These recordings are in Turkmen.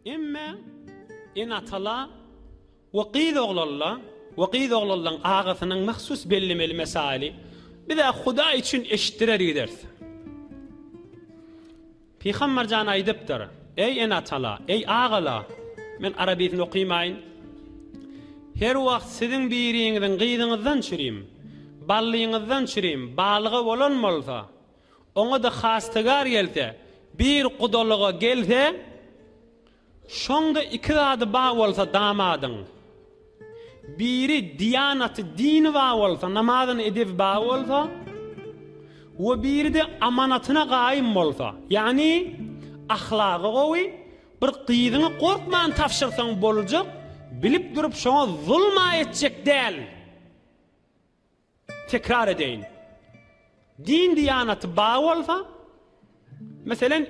Emma ene-atalar we gyz oglanlar we gyz oglanlaryň agasynyň mahsus bellemeli mesaýyly biz-ä Hudaý üçin eşitdirer gideris. Pygamber jan aýdypdyr, Eý ene-atalar, eý agalar, men arabisini okymaýyn, Her wagt siziň biriňiziň gyzyňyzdan çürim, ballyňyzdan çürim, balygy bolan bolsa, Oňa-da hastygar gelse, bir gudalyga gelse, şoňda iki zady bar bolsa damadyň, biri diýanaty, dini bar bolsa, namazyny, edebi bar bolsa we biri-de amanatyna gaýym bolsa, ýagny ahlagy gowy, bir gyzyňy gorkman tabşyrsaň boljak, bilip durup şoňa zulm-a etjek däl. Tekrar edeýin. Din-diýanaty bar bolsa, meselem,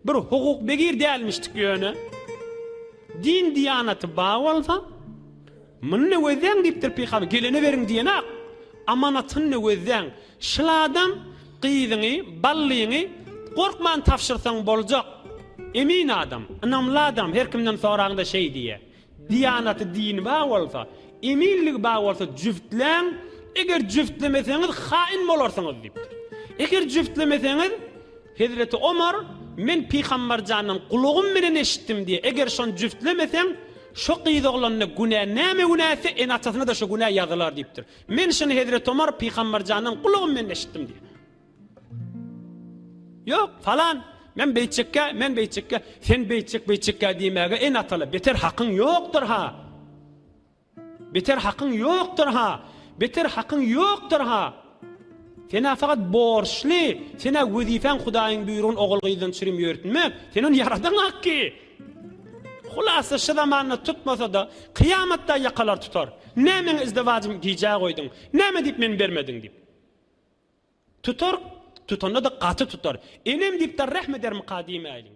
bir hukuk begir dälmişdik ýöne, din-diýanaty bar bolsa, Muny nöwezläň diýipdir Pygamber, gelene beriň diýenak, amanatyny nöwezläň. Şul adam gyzyňy, ballyňy gorkman tabşyrsaň boljak. Emin adam, ynamly adam, her kimden soraňda şeý diýýär. Diýanaty dini bar bolsa, eminligi bar bolsa jübtläň, eger jübtlemeseňiz haýyn bolarsyňyz diýipdir. Eger jübtlemeseňiz, Hezreti Omar, men Pygamberjandan gulagym bilen eşitdim diýe, eger şony jübtlemeseň, şo gyz oglanyna günä näme günä etse, ene-atasyna-da şo günä ýazylar diýipdir. Men şony Hezreti Omar Pygamberjandan gulagym bilen eşitdim diýe. Ýok, falan, men beýtjekkä, men beýtjekkä, sen beýtjek, beýtjekkä diýmäge en ataly, beter hakyň ýokdur-ha! Beter hakyň ýokdur-ha! Beter hakyň ýokdur-ha! Sen-ä fakat borçly, sen-ä wezipäň Hudaýyň buýrugyny ogul-gyzdan çürim ýörtmek, sen ony ýaradan akki! Hulasa, şu zamanda tutmasa-da, kyýamatda ýakalar tutar. Nä meň izdewajym gijä goýduň, näme diýip men bermediň diýip. Tutar, tutanda-da gaty tutar. Enem diýip-de rähm edermika diýmäýliň.